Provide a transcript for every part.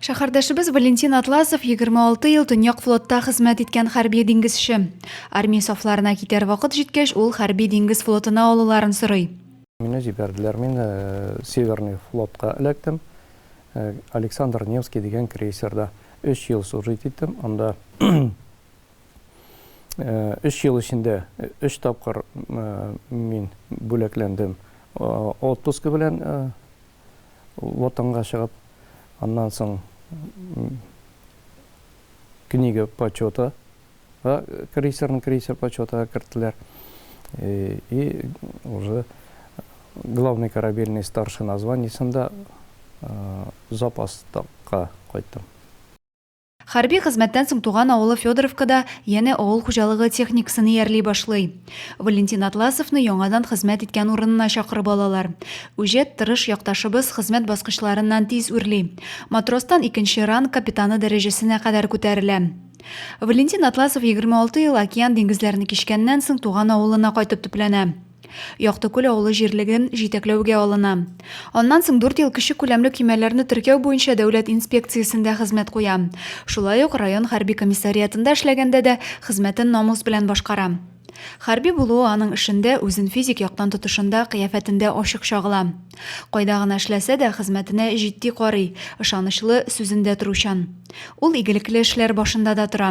Шәһәрдәшебез Валентин Атласов 26 ел Төньяк флотта хезмәт иткән хәрби диңгезче. Армия сафларына китәр вакыт җиткәч, ул хәрби диңгез флотына алуларын сорый. Мине җибәрделәр, мин э, Северный флотка эләктем. Э, Александр Невский дигән крейсерда 3 ел служить иттем. Анда 3 э, ел эчендә 3 тапкыр мин бүләкләндем отпуск белән Ватанга чыгып, аннан соң книга почета га крейсерны крейсер почетыга керттеләр. И уже главный корабельный старшина званиесында запаска кайттым. Хәрби хезмәттән соң туган авылы Федоровкада янә авыл хуҗалыгы техникасын иярли башлый. Валентин Атласовны яңадан хезмәт иткән урынына чакырып алалар. Үҗәт, тырыш якташыбыз хезмәт баскычларыннан тиз үрли. Матростан икенче ранг капитаны дәрәҗәсенә кадәр күтәрелә. Валентин Атласов 26 ел океан-диңгезләрне кичкәннән соң туган авылына кайтып төпләнә. Яктыкүл авылы җирлеге җитәкләүгә алына. Аннан соң дүрт ел кече күләмле көймәләрне теркәү буенча дәүләт инспекциясендә хезмәт куя. Шулай ук район хәрби комиссариатында эшләгәндә дә хезмәтен намус белән башкара. Хәрби булуы аның эшендә, үзен физик яктан тотышында, кыяфәтендә ачык чагыла. Кайда гына эшләсә дә, хезмәтенә җитди карый, ышанычлы, сүзендә торучан. Ул игелекле эшләр башында да тора.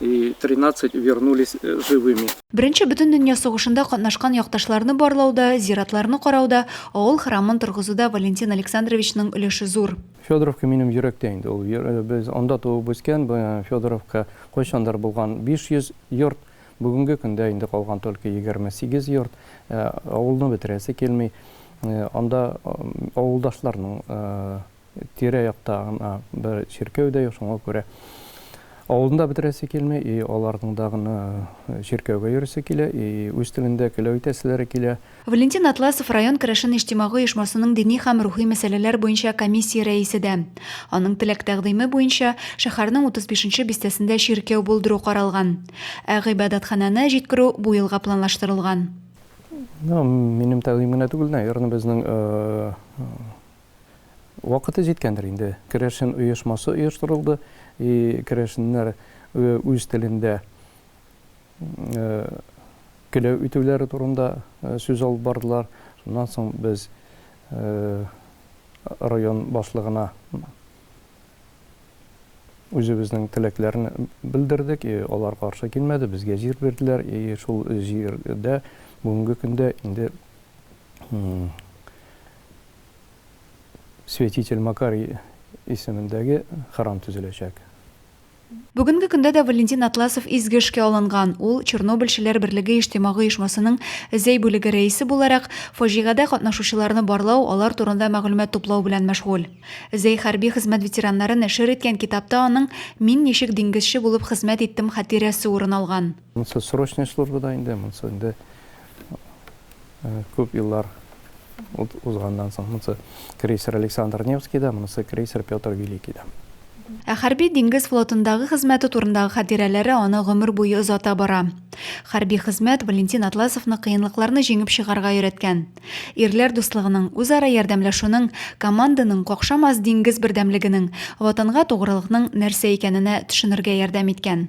и тринадцать вернулись живыми. Беренче Бөтендөнья сугышында катнашкан якташларны барлауда, зиратларны карауда, авыл храмын торгызуда Валентин Александровичның өлеше зур. Федоровка минем йөрәктә инде ул. Без анда туып үскән, Федоровка кайчандыр булган 500 йорт, бүгенге көндә инде калган только 28 йорт. Авылны бетерәсе килми. Анда авылдашларның тирә-якта гына бер чиркәү дә юк, шуңа күрә авылны да бетерәсе килми, и аларның да гына чиркәүгә йөрисе килә, и үз телендә көләү итәселәре килә. Валентин Атласов район керәшен иҗтимагый оешмасының дини һәм рухи мәсьәләләр буенча комиссия рәисе дә. Аның теләк-тәкъдиме буенча, шәһәрнең 35 нче бистәсендә чиркәү булдыру каралган. Ә гыйбадәтханәне җиткерү бу елга планлаштырылган. Минем тәкъдим генә түгел, наверное, безнең Вакыты җиткәндер инде. Керәшен оешмасы оештырылды, и керәшеннәр үз телендә келәү итүләре турында сүз алып бардылар. Шуннан соң без район башлыгына үзебезнең теләкләрне белдердек, и алар каршы килмәде, безгә җир бирделәр, и шул җирдә бүгенге көндә инде Святитель Макарий исемендәге храм төзеләчәк. Бүгенге көндә дә Валентин Атласов изге эшкә алынган. Ул, Чернобыльчеләр берлеге иҗтимагый оешмасының Зәй бүлеге рәисе буларак, фаҗигадә катнашучыларны барлау, алар турында мәгълүмат туплау белән мәшгуль. Зәй хәрби хезмәт ветераннары нәшер иткән китапта аның Мин ничек диңгезче булып хезмәт иттем хатирәсе урын алган. Монсы срочная служба да инде, монсы инде э, күп еллар узганнан соң монысы крейсер александр невский да монысы крейсер петр великий да Ә хәрби диңгез флотындагы хезмәте турындагы хатирәләре аны гомер буе озата бара. Хәрби хезмәт Валентин Атласовны кыенлыкларны җиңеп чыгарга өйрәткән. Ирләр дуслыгының, үзара ярдәмләшүнең, команданың какшамас диңгез бердәмлегенең, ватанга тугрылыкның нәрсә икәненә төшенергә ярдәм иткән.